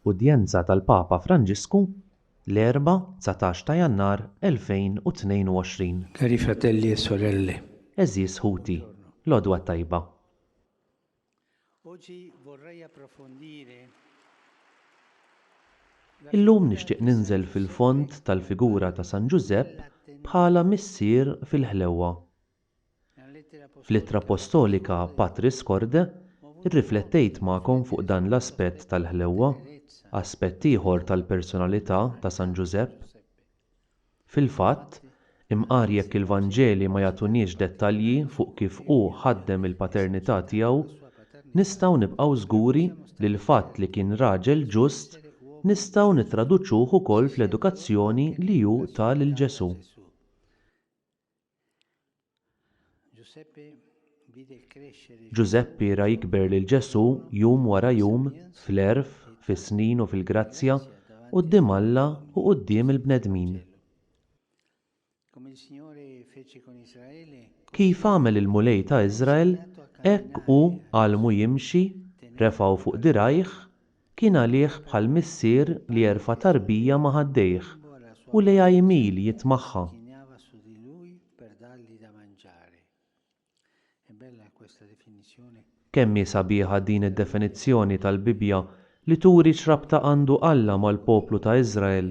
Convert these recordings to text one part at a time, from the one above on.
Udjenza tal-Papa Franġisku l-Erbgħa 19 ta' Jannar 2022. Cari fratelli e sorelle. Għeżież ħuti, l-għodwa t-tajba. Illum nixtieq ninżel fil-fond tal-figura ta' San Ġużepp bħala missier fil-ħlewwa. Fl-Ittra Appostolika Patris Corde rriflettejt magħkom fuq dan l-aspett tal-ħlewwa, aspett ieħor tal-personalità ta' San Ġużepp. Fil-fatt, imqar jekk il-Vanġeli ma jagħtuniex dettalji fuq kif hu ħaddem il-paternità tiegħu, nistgħu nibqgħu żguri li l-fatt li kien raġel ġust nistgħu nittraduċuh ukoll fl-edukazzjoni li hu ta lil Ġesù. Ġużeppi ra jikber lil Ġesù jum wara jum fl-għerf, fis-snin u fil-grazzja, quddiem Alla u quddiem il-bnedmin. Kif għamel il-Mulej ta' Iżrael, hekk hu għallmu jimxi, refgħu fuq dirgħajh, Kien għalih bħal missier li jerfa' tarbija ma' ħaddejh u lejha jmil jitmagħha. Kemm hi sabiħa din id-definizzjoni tal-Bibbja li turi x'rabta għandu Alla mal-poplu ta' Iżrael!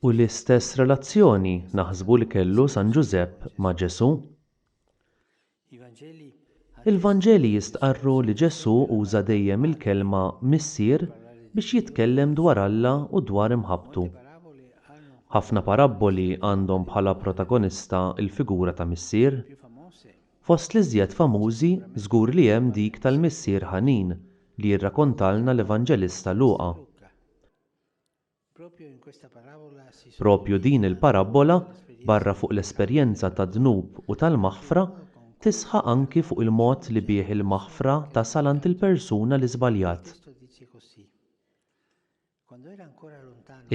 U l-istess relazzjoni naħsbu li kellu San Ġużepp ma' Ġesù. Il-Vanġeli jistqarru li Ġesù uża dejjem il-kelma Missier biex jitkellem dwar Alla u dwar imħabbtu. Ħafna parabboli għandhom bħala protagonista l-figura ta' missier. Fost l-iżjed famużi żgur li hemm dik tal-missier ħanin li jirrakontalna l-Evanġelista Luqa. Proprju din il-parabbola, barra fuq l-esperjenza tad-dnub u tal-maħfra, tisħaq anki fuq il-mod li bih il-maħfra tasal għand il-persuna li żbaljat.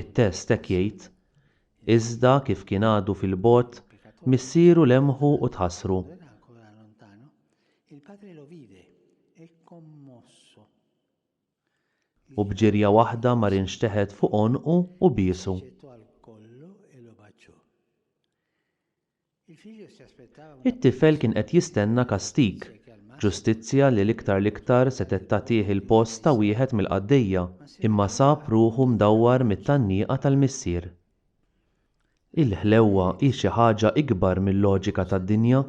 It-test hekk jgħid, Iżda kif kien għadu fil-bogħod, missieru lemħu u tħassru. U b'ġirja waħda mar inxteħet fuq għonqu u biesu. It-tifel kien qed jistenna kastig, ġustizzja li l-iktar l-iktar setgħet tagħtih il-post ta' wieħed mill-qaddejja, imma sab ruħu mdawwar mit-tgħanniqa tal-missier. Il-ħlewwa hi xi ħaġa ikbar mil-loġika tad-dinja.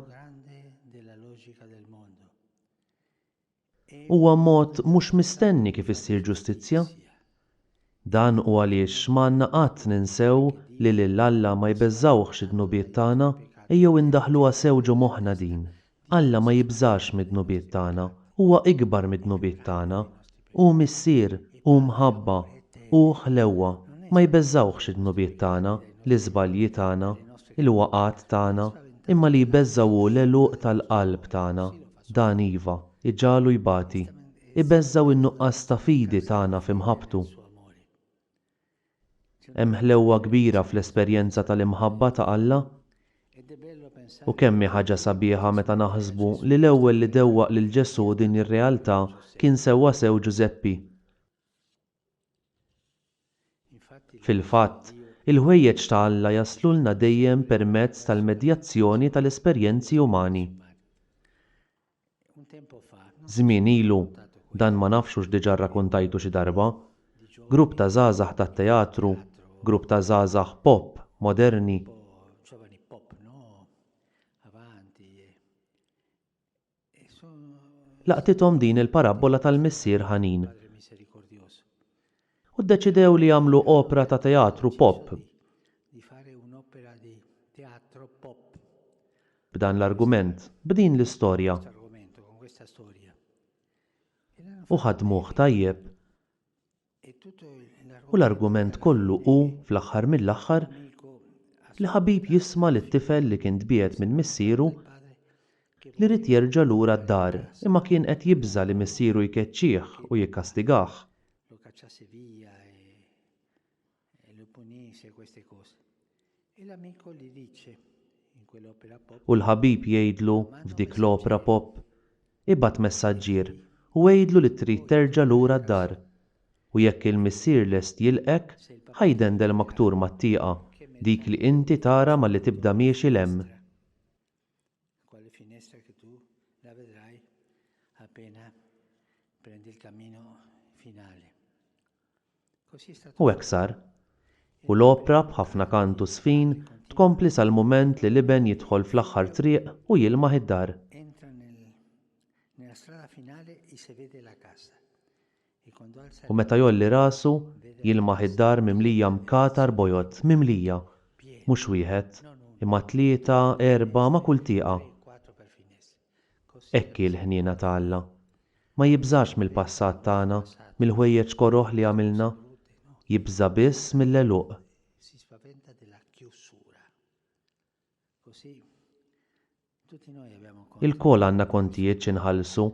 Huwa mod mhux mistenni kif issir ġustizzja. Dan hu għaliex ma għandna qatt ninsew li lil Alla ma jbeżżawhx id-dnubiet tagħna, ejjew indaħħluha sew ġo moħħna din, Alla ma jibżax mid-dnubiet tagħna, huwa ikbar mid-dnubiet tagħna, hu Missier, hu mħabba, hu ħlewwa, ma jbeżżawhx id-dnubiet tagħna, l-iżbalji tagħna, il-waqgħat tagħna, imma li jbeżżaw hu l-għeluq tal-qalb tagħna, Dan iva, iġagħlu jbati. Ibeżża' u n-nuqqas ta' fidi tagħna f'imħabbtu. Hemm ħlewwa kbira fl-esperjenza tal-imħabba ta' Alla. U kemm hi ħaġa sabiħa meta naħsbu li l-ewwel li dewwaq lil Ġesù din ir-realtà kien sewwasew Ġużeppi. Fil-fatt, il-ħwejjeġ ta' Alla jaslulna dejjem permezz tal-medjazzjoni tal-esperjenzi umani. Żmien ilu, dan ma nafx hux diġà rrakuntajtu xi darba, grupp ta' żgħażagħ tat-teatru, grupp ta' żgħażagħ pop moderni, laqtithom din il-parabbola tal-missier ħanin u ddeċidew li jagħmlu opra ta' teatru pop b'dan l-argument, b'din l-istorja. U ħadmuh tajjeb. U l-argument kollu hu, fl-aħħar mill-aħħar, li ħabib jisma' lit-tifel li kien tbiegħed minn missieru li ried jerġa' lura d-dar imma kien qed jibża' li missieru jkeċċih u jikkastigah. U l-ħabib jgħidlu f'dik l-opra pop, Ibgħat messaġġier u għidlu li trid terġa' lura d-dar. U jekk il-missier lest jilqgħek, ħa jdendel ma' ktur mat-tieqa, dik li inti tara malli tibda miexi 'l hemm. U hekk sar. U l-opra b'ħafna kant u żfin tkompli sal-mument li l-Iben jidħol fl-aħħar triq u jilmaħ id-dar. U meta jgħolli rasu, jilmaħ id-dar mimlija mkatar bojod, mimlija, mhux wieħed, imma tlieta, erbgħa ma' kull tieqa. Hekk hi l-ħniena ta' Alla. Ma jibżax mill-passat tagħna, mill-ħwejjeġ koroh li għamilna. Jibża' biss mill-għeluq. Ilkoll għandna kontijiet xi nħallsu,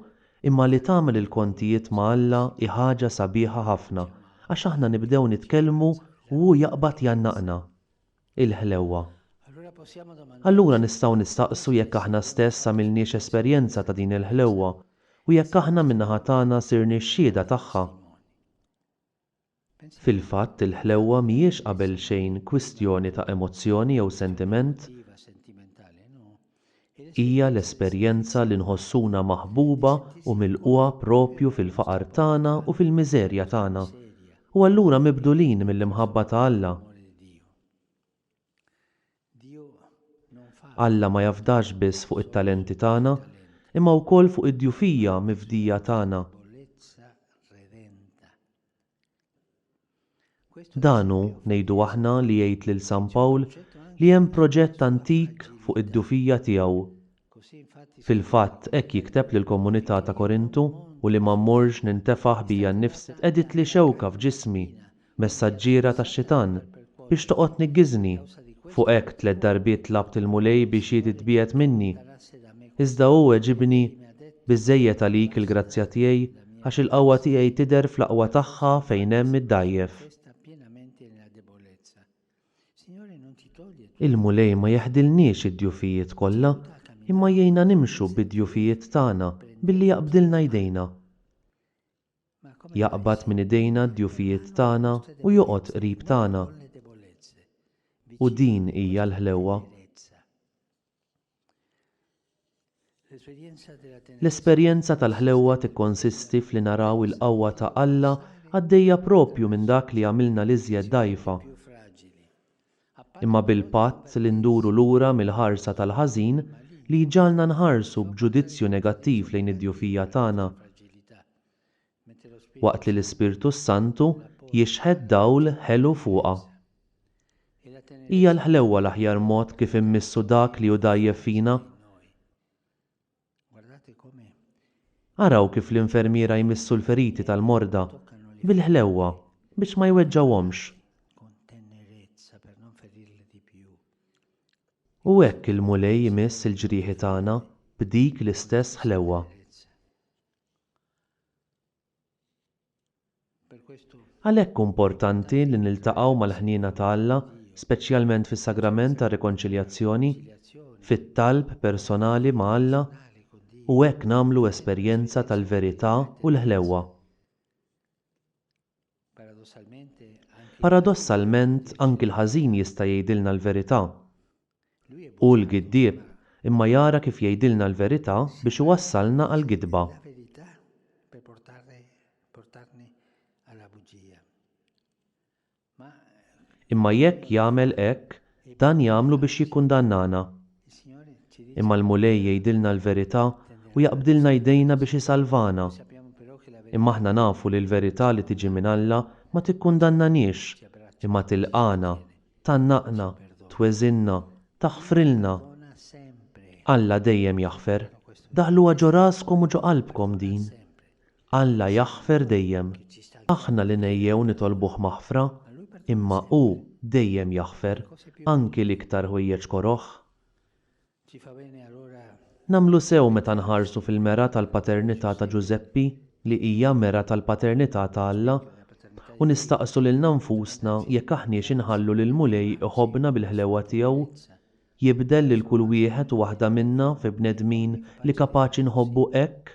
imma li tagħmel il-kontijiet ma' Alla hi ħaġa sabiħa ħafna għax aħna nibdew nitkellmu u hu jaqbad jgħannaqna. il-ħlewwa. Allura nistgħu nistaqsu jekk aħna stess għamilniex esperjenza ta' din il-ħlewwa u jekk aħna min-naħa tagħna sirniex xhieda tagħha. Fil-fatt, il-ħlewwa mhijiex qabelxejn kwistjoni ta' emozzjoni jew sentiment. Hija l-esperjenza li nħossuna maħbuba u milqugħa proprju fil-faqar tagħna u fil-miżerja tagħna, u allura mibdulin mill-imħabba ta' Alla. Alla ma jafdax biss fuq it-talenti tagħna, imma wkoll fuq id-djufija mifdija tagħna. Dan hu, ngħidu aħna li jgħid lil San Pawl li hemm proġett antik fuq id-dufija tiegħu. Fil-fatt hekk jikteb lill-komunità ta' Korintu, u li ma mmorrx nintefaħ bija nnifsi qegħditli xewka f'ġismi, messaġġiera tax-xitan, biex toqgħod tniggiżni, fuq hekk tliet darbiet tlabt il-Mulej biex hi titbiegħed minni, iżda hu weġibni, Biżżejjed għalik il-grazzja tiegħi, Għax il-qawwa tiegħi tidher fl-aqwa tagħha fejn hemm id-dgħajjef. Il-Mulej ma jeħdilniex id-djufijiet kollha, imma jgħinna nimxu bid-djufijiet tagħna billi jaqbdilna jdejna. Jaqbad minn idejna d-djufijiet tagħna u joqgħod qrib tagħna. U din hija l-ħlewwa. L-esperjenza tal-ħlewwa tikkonsisti f'li naraw il-qawwa ta' Alla għaddejja proprju minn dak li jagħmilna l-iżjed dgħajfa. Imma bil-patt li nduru lura mill-ħarsa tal-ħażin li jġagħalna nħarsu b'ġudizzju negattiv lejn id-djufija tagħna, waqt li l-Ispirtu s-Santu jixħet dawl ħelu fuqha. Hija l-ħlewwa l-aħjar mod kif immissu dak li hu dgħajjef fina. Araw kif l-infermiera jmissu l-feriti tal-morda bil-ħlewwa biex ma jweġġgħuhomx. U hekk il-Mulej imiss il-ġrieħi tagħna b'dik l-istess ħlewwa. Għalhekk hu importanti li niltaqgħu mal-ħniena ta' Alla, speċjalment fis-Sagrament tar-Rikonċiljazzjoni, fit-talb personali ma' Alla, u hekk nagħmlu esperjenza tal-verità u l-ħlewwa. Paradossalment, anki l-ħażin jista' jgħidilna l-verità. Hu l-giddieb, imma jara kif jgħidilna l-verità biex iwassalna għall-gidba. Imma jekk jagħmel hekk, Dan jagħmlu biex jikkundannana. Imma l-Mulej jgħidilna l-verità u jaqbdilna jdejna biex isalvana. Imma aħna nafu li l-verità li tiġi minn Alla ma tikkundannaniex, imma tilqagħna, tgħannaqna, tweżinna, taħfrilna. Alla dejjem jaħfer. Daħluha ġo raskom u ġo qalbkom din. Alla jaħfer dejjem. Aħna li ngħejjew nitolbuh maħfra, imma hu dejjem jaħfer, anki l-iktar ħwejjeġ koroh. Nagħmlu sew meta nħarsu fil-mera tal-paternità ta' Ġużeppi li hija mera tal-paternità ta' Alla u nistaqsu lilna nfusna jekk aħniex inħallu lill-Mulej iħobbna bil-ħlewwa tiegħu, jibdel lil kull wieħed u waħda minna fi bnedmin li kapaċi nħobbu hekk.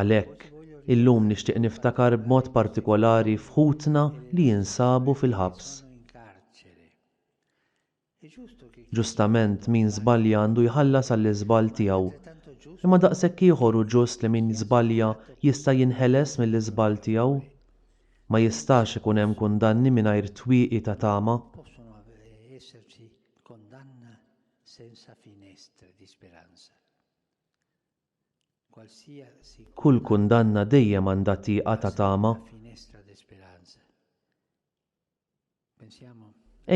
Għalhekk, illum nixtieq niftakar b'mod partikolari f'ħutna li jinsabu fil-ħabs. Ġustament, min żbalja għandu jħallas għall-iżball tiegħu. Imma daqshekk ieħor hu ġust li min żbalja jista' jinħeles mill-iżball tiegħu. Ma jistax ikun hemm kundanni mingħajr twieqi ta' tama. Kull kundanna dejjem għandha tieqa ta' tama.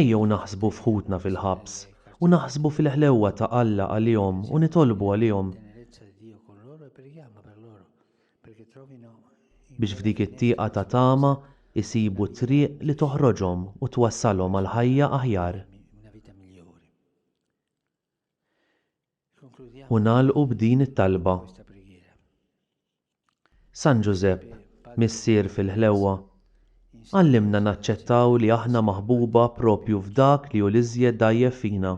Ejjew naħsbu f'ħutna fil-ħabs u naħsbu fil-ħlewwa ta' Alla għalihom u nitolbu għalihom, biex f'dik it-tieqa ta' tama jsibu t-triq li toħroġhom u twassalhom għal ħajja aħjar. u nagħlqu b'din it-talba. San Ġużepp, Missier fil-ħlewwa, għallimna naċċettaw li aħna maħbuba proprju f'dak li hu l-iżjed dgħajjef fina.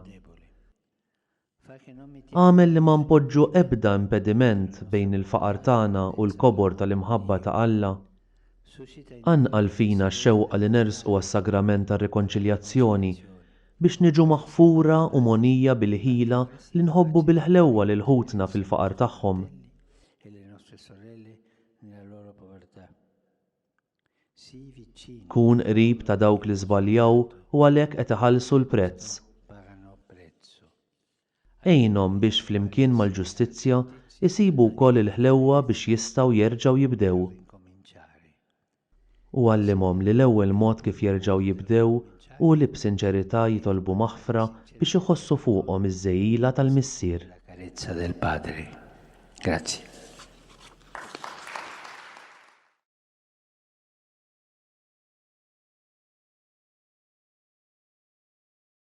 Agħmel li ma npoġġu ebda impediment bejn il-faqar tagħna u l-kobor tal-imħabba ta' Alla. Anqal fina x-xewqa li nersqu għas-Sagrament tar-Rikonċiljazzjoni, biex niġu maħfura u mogħnija bil-ħila li nħobbu bil-ħlewwa lil ħutna fil-faqar tagħhom. Kun qrib ta' dawk li żbaljaw u għalhekk qed iħallsu l-prezz. Għinhom biex flimkien mal-ġustizzja jsibu wkoll il-ħlewwa biex jistgħu jerġgħu jibdew. U għallimhom li l-ewwel mod kif jerġgħu jibdew hu li b'sinċerità jitolbu maħfra biex iħossu fuqhom iż-żegħila tal-Missier.